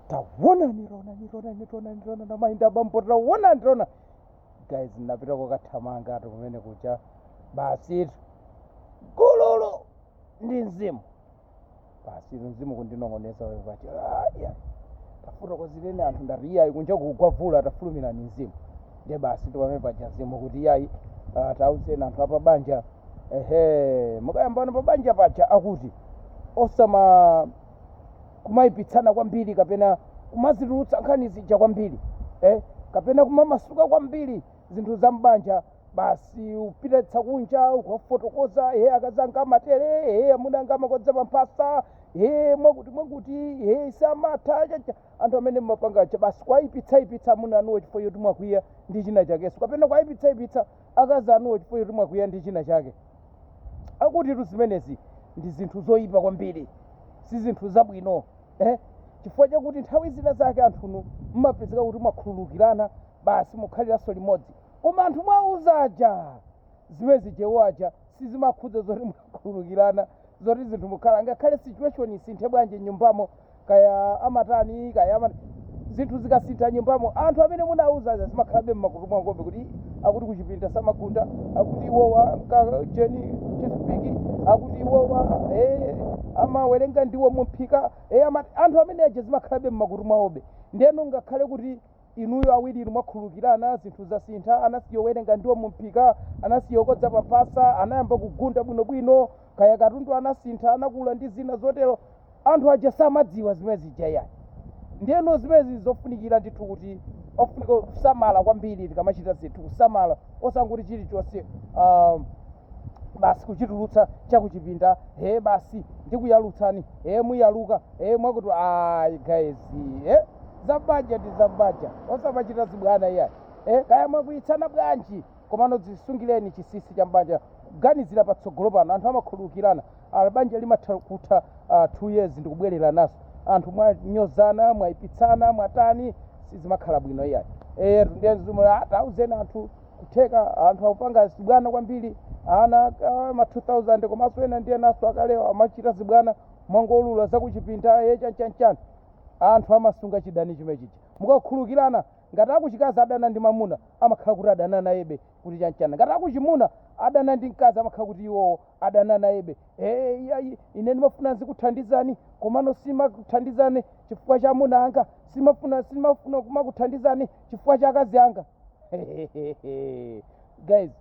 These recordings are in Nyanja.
tawona nirona nirona nirona nirona namainda bambo tawona nirona guys napita kokathamanga ati kumene kucha basitu gululu ndi mzimu basitu mzimu kundinong'oneza wewe pati aya tafuna kudzilene anthu ndati iyayi kunja kugwa vula tafulumira ni mzimu ndiye basitu pamene paja mzimu kuti iyayi ah, tauzeni anthu apabanja ehe mukayambana pabanja paja akuti osama kumayipitsana kwambiri kapena kumazitulutsa nkhani zija kwambiri eh? kapena kumamasuka kwambiri zinthu za m'banja basi upita nazo kunja ukafotokoza he akazi anga amatere he amuna anga amakodza pamphasa he mwakuti mwakuti he samatha chacha anthu amene mmapanga cha basi kwayipitsayipitsa amuna anuwo chifukwa choti mwakwiya ndi china chakenso kapena kwayipitsayipitsa akazi anuwo chifukwa choti mwakwiya ndi china chake akutitu zimenezi ndi zinthu zoyipa kwambiri si zinthu zabwino eh? chifukwa chakuti nthawi zina zake anthunu mmapezeka kuti mwakhululukirana basi mukhaliranso limodzi koma anthu mwawauza aja zimene zije iwo aja sizimakhudza zoti mwakhululukirana zoti zinthu mukhala ngakhale situation isinthe bwanji mnyumbamo kaya amatani kaya ama zinthu zikasintha nyumbamo anthu amene munawauza aja zimakhalabe mmakutu mwawobe kuti akuti kuchipinda samagunda akuti iwowa nkajeni chifupiki akuti iwowa eh, amawerenga ndiwo mumphika eh, ama, anthu amene aja zimakhalabe mmakutu mwawobe ndeno ngakhale kuti inuyo awiri inu mwakhululukirana zinthu zasintha anasiya zowerenga ndiwo mumphika anasiya zokodza paphasa anayamba kugunda bwinobwino kaya katundu anasintha anakula ndi zina zotero anthu aja samadziwa zimene zija ayi ndiyeno zimenezi zofunikira ndithu kuti ofunika kusamala kwambiri tikamachita zinthu kusamala osangoti chilichonse um, basi kuchitulutsa chakuchipinda he basi ndikuyalutsani he muyaluka he mwakuti ayi guys eh? za mbanja ndi za mbanja osamachita zibwana iyayi eh, kaya mwakwiyitsana bwanji komano zisungiranani chisisi cha mbanja kuganizira patsogolo pano anthu amakhululukirana ala banja limatha kutha uh, two years ndikubwererananso anthu mwanyozana mwayipitsana mwatani sizimakhala bwino iyayi eh, ndiye mzimu ukuti auzeni anthu kutheka anthu akupanga zibwana kwambiri ana ah, ma 2000 komanso ena ndiye naso akalewa amachita zibwana mwangoulula zakuchipinda ye chanchanchani anthu amasunga chidani chimene chija mukakhululukirana ngati akuchikazi adana ndi mamuna amakhala kuti adana nayebe kuti chanchana ngati akuchimuna adana ndi mkazi amakhala kuti iwowo adana nayebe Eh, iyayi ine ndimafuna nzikuthandizani komano simakuthandizani chifukwa cha amuna anga simafuna simafuna kumakuthandizani chifukwa cha akazi anga guys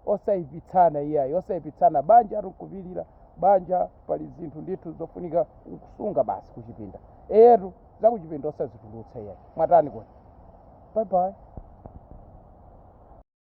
osayipitsana iyayi osayipitsana banja tikupilira banja pali zinthu ndithu zofunika kusunga basi kuchipinda eyetu zakuchipinda osazitulutsa iyayi mwatani kodi bye bye